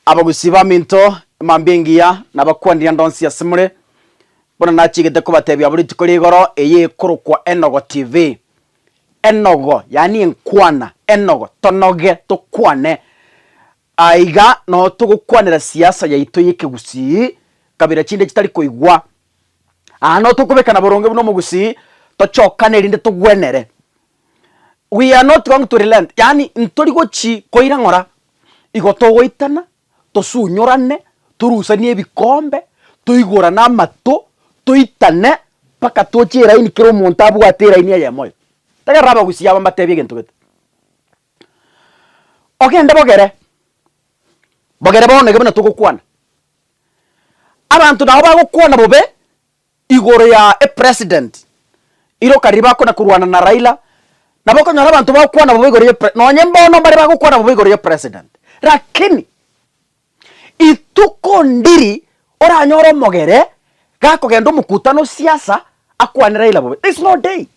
Abagusii b'aminto emambia engiya nabakwanire ndonsi ase more, buna nachigete kobatebia abwo rituko rigoro eye ekorokwa Enogo TV. Enogo, yaani enkwana, enogo, tonoge, tokwane. Aa iga noo togokwanera siasa yaito y'ekegusii, kabira chinde chitari koigwa. Aa noo tokobekana boronge buna omogusii, tochokane erinde togwenere. we are not going to relent yaani ntori gochi koira ng'ora igo togoitana tosunyorane torusanie ebikombe toigorane amato toitane mpaka tochie eraini kera omonto abwate eraini eyemo oyo tari aroro abagusia aba mbatebie egento gete ogende bogere bogere bono iga buna togokwana abanto nabo bagokwana bobe igoro ya epresident iroka riria bakona korwana na Raila nabo okonyora abanto bagokwana bobe igoro ye pre nonye mbono mbare bagokwana bobe igoro ye president lakini ituko ndiri oranyore omogere gakogenda omokutano osiasa akwane Raila bobe this no day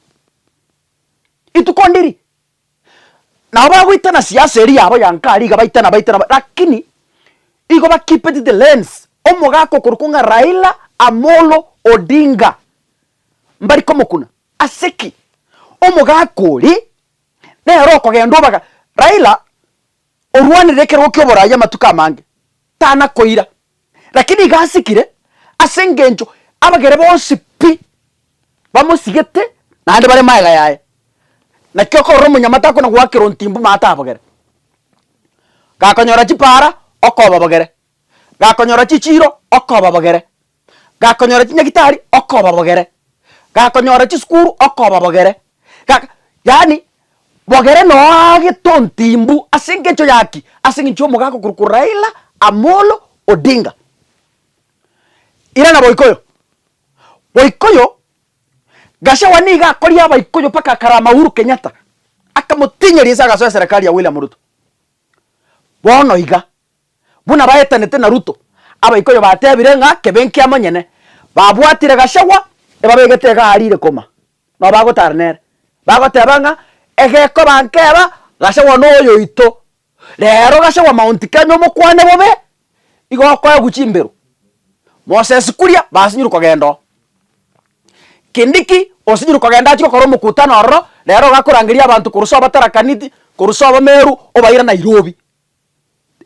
ituko ndiri. Nabo bagoitana siasa eria yabo ya nkari iga baitana baitana ba lakini igo ba keep it the lens omogaka okorokwa ng'a Raila Amolo Odinga mbari komokuna ase ki? Omogaka oria nere okogenda obaga Raila orwanire ekerogo ki'oboraai amatuko amange, tana koira, lakini iga asikire, ase engencho abagere bonsi pi bamosigete naende bare magega yaye. Naki okorora omonyamate akona goakera ontimbu maate abogere, gakonyora chipaara okobabogere, gakonyora chichiiro okobabogere. gakonyora chinyagitari okobabogere, gakonyora chisukuru okobabogere, ga yaani bogere noo aagete ontimbu ase engencho yaki, ase engencho y'omogaaka okorokwa Raila Amolo Odinga. Irana boikoyo, boikoyo Gachagua niga akoria abaikoyo mpaka akarama Uhuru Kenyatta, akamotinyeria ase agasoa eserekari ya William Ruto. Bono iga, buna baetanete na Ruto, abaikoyo batebire ng'a kebe nkiamonyene, babwatire Gachagua ebabegete iga arire koma, nao bagotara nere, bagoteba ng'a egekoba nkeba Gachagua noyoito, rero Gachagua Mount Kenya omokwane bobe, igo okoegwa chimberu. Moses Kuria basinyire kogenda oo. Kindiki osinyire kogenda achire gokora omokutano ororo, rero iga akorangeria abanto korwa ase obatarakaniti, korwa ase abameru, obaira Nairobi.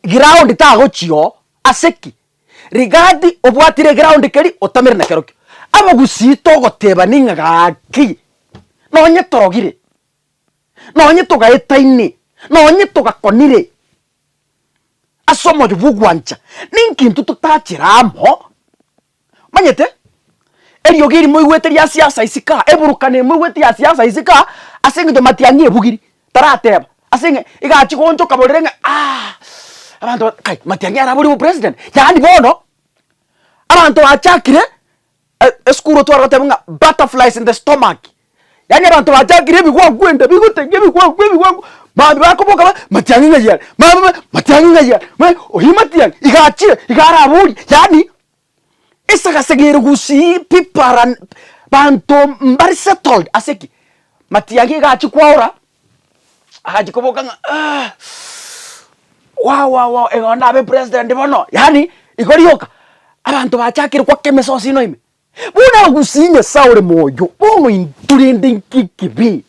Ground tagochia oo, ase ki? Rigati obwatire eground keri otamire nakerokio. Abagusii togotebani ng'a gaki nonye torogire, nonye togaetaine, nonye togakonire ase omoyo bw'ogwancha, ninki intwe totachere amo Monyete, eriogi eri moigwete ria siasa isi ka, eburukana eye moigwete ya siasa isi ka, ase eng'encho Matiang'i ebugiri, tarateba, ase eng'e egachia gooncha okaborera ng'a aah abanto ba kai Matiang'i araborie obopresident, yaani bono abanto bachakire esukuru otware goteba ng'a butterflies in the stomach. Yaani abanto bachakire ebigwakwenda bigotegia ebigwaku ebigwaku mambia bakoboka ba matiang'i ng'ai are mambia ba matiang'i ng'ai are mambia ba oyio matiang'i iga achire iga araborie yaani esagasaga ere gusii people are un banto mbare settled ase ki matiang'i iga achia kwaora agachia koboka ng'a wawawa iga onde abe president bono yaani igo rioka abanto bachakire goaka emesosi ino ime Buna ogusie Nyasae ore moyo, bono intwe rende inki ekibe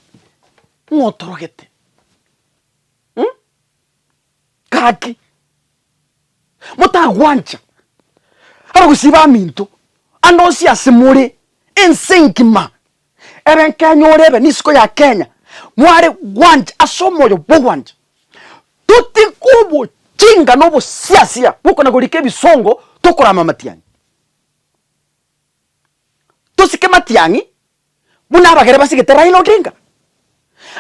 ng'a otorogete? Hm? Gaki, motagwancha abagusie baminto ande onsi ase more, ense engima ebe nkenya ore ebe n'isiko ya Kenya, mware gwancha ase omoyo bw'ogwancha. Totige obochinga na obosiasia bw'okona-gorika ebisongo tokorama amatianyi. Tosike matiang'i buna abagere basigete Raila Odinga.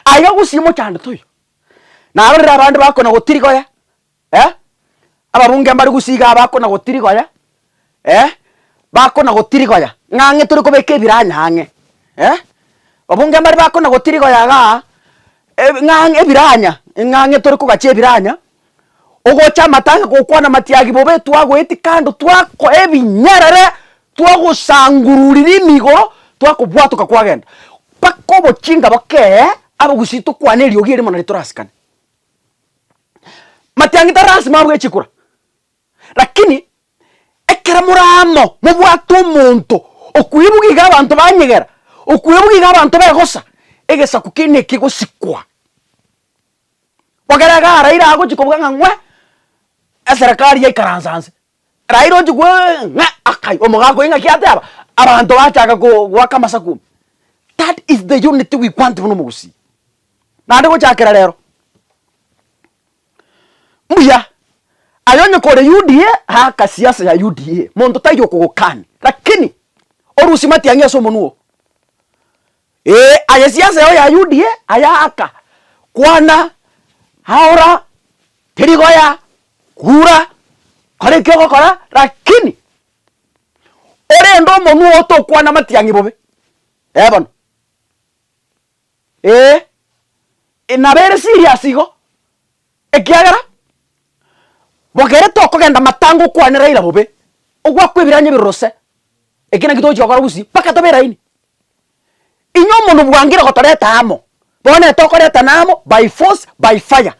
Aiga gusii omochandete oyo. Naro riria abande bakona gotirigoya eh ababunge mbare gusii igaa bakona gotirigoya eh bakona gotirigoya ng'a ang'e tore kobeka ebiranya ang'e eh ababunge mbare bakona gotirigoya igaa ebi ng'a ebiranya ng'a ang'e tore kogachia ebiranya Ogocha amatanga gokwana matiagi bobe twagoeti kando twakoa ebinyarare twagosangururiri emigo twakobwatoka kwagenda mpaka obochinga bokee abagusii tokwane eriogi eri mono ritorasikane. Matiangi tari lasima abwe chikura lakini ekero more amo mobwate omonto okuya ebuge iga abanto banyegera okuya ebuge iga abanto begosa egesaku kende ekegosikwa. Bokere iga Raila agochia kobuga ng'a ng'we eserekari yaikaranse anse, Raila ochia koigwa ng'a ng'a akai omogaka oyo ng'aki ateba, abanto bachaka ko goaka amasaku, that is the unity we want buna omogusii. Naende gochakera rero, mbuya, aye onye kore UDA aka siasa ya UDA, monto taiyo okogokani, lakini orusie matiang'i ase omonwa oo. Ee, aye siasa eye ya UDA ayaaka kwana aora teri goya kura kora eki ogokora lakini orende omonwe oo tokwana amatiang'i bobe ee bono ee nabo ere serious igo. Ekiagera bogerete okogenda matanga okwane Raila bobe, ogwakwa ebiranya ebiruruse, eki naki togochia gokora gusii mpaka tobe eraini. Inye omonto bwangire gotoreta amo, bono tokoretana amo by force by fire.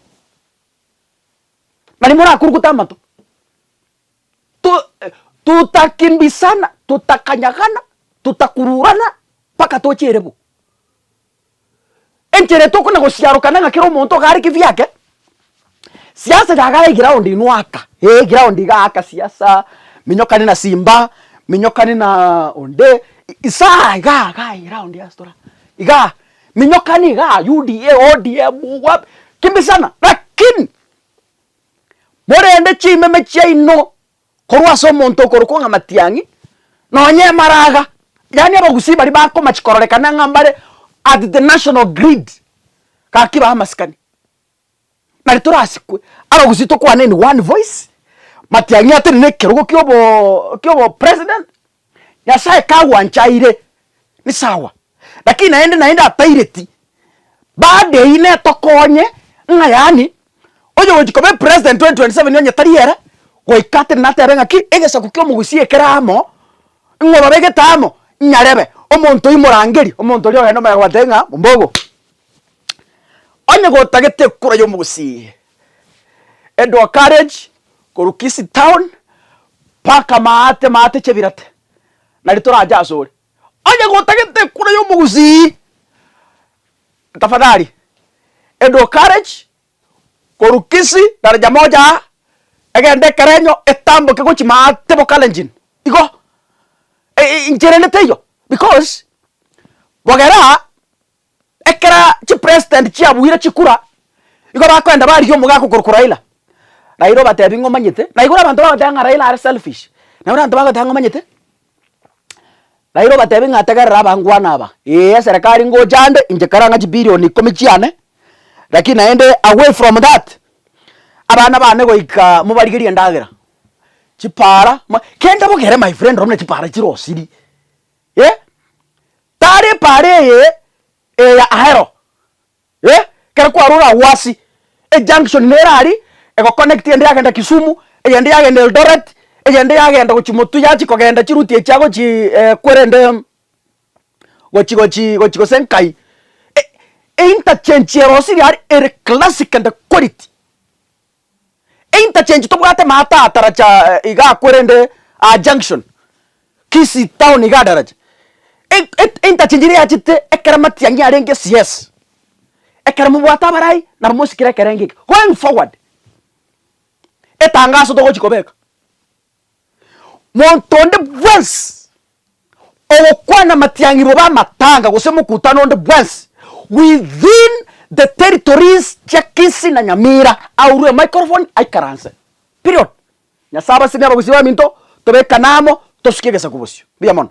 Nari morakurukute amato, tu tutakimbisana, tutakanyagana, tutakururana mpaka toche erebu. Enchera etokona gosiarokana ng'a kera omonto iga are kefie ake, siasa iga agare eground inwe aka, eh eground iga aka siasa, minyokane na simba, minyokane na onde, isaa igaa igaa eground ase tore aa, igaa minyokane igaa UDA, ODM, wapi, kimbisana, lakini morende chimeme chiaino. Korwa ase omonto okorokwa ng'a Matiang'i, nonye Emaraga, yaani Abagusii baria bakomach kororekana ng'a mbare at the national grid, gaki bae amasikani. Nari torasikwe, Abagusii tokwane in one voice, Matiang'i atenene ekerogo kia obo, kia obo president, Nyasae kagwanchaire ni sawa, lakini naende naende a pirate badeine tokonye ng'a yaani oyogochia koba epresident 2027 onye tari ere, goika tari natebe ng'a ki, egesaku kia omogusi ekere amo, ng'a obabegete amo, nyarebe omonto oyio morangeri, omonto oria ogende omaye gobatebia ng'a mombogo, onye gotagete ekura ya omogusi eye. Endwa Carriage korwa Kisii Town mpaka Maate, Maate Chebirate nari torache asore. Onye gotagete ekura ya omogusii, tafadhali Endwa Carriage korwa Kisii daraja moja egende Ekerenyo etamboke gochia Maate bo Kalenjin igo inchererete eyo because bogera. Ekero chipresident chiabuire chikura, igo bakoenda barigia omogaka okorokwa Raila, Raila obatebi ng'a omanyete, naigure abanto bagoteba ng'a Raila are selfish, naigure abanto bagoteba ng'a omanyete, Raila obatebi ng'a tegerera abangwana aba, ee eserekari ngocha ande inche kare ang'e chibilion ikomi chiane, lakini naende away from that, abana bane goika mobarigerie endagera, chipara, kende bogere my friend nonye chipara chire osiri. eh, tari epaara eye eya Ahero, eh, ekero kwarure agwo ase ejunction nere aria egoconnect eyende yagenda Kisumu, eyende yagenda Eldoret, eyende yagenda gochia Motu yachia kogenda chiruti echi agochii eh, kwerende gochi gochi gochi gose nkai, e- einterchange eye rosiria aria ere classic and quality. Einterchange tobwate maata ataracha iga akwo rende aa junction Kisii town iga adaracha einterchange eria yachete ekero amatiang'i arenge sies ekero mobwate abarai nabo mosikire ekerenge eke going forward etangaso togochi kobeka Monto onde bwensi ogokwana amatiang'irwa oba amatanga gose omokutano onde bwensi within the territories chia Kisii na Nyamira aurwe emicrophone aikaranse. Period. Nyasae abasibie abagusii baminto tobekane amo tosukie egesaku bosio. Mbuya mono.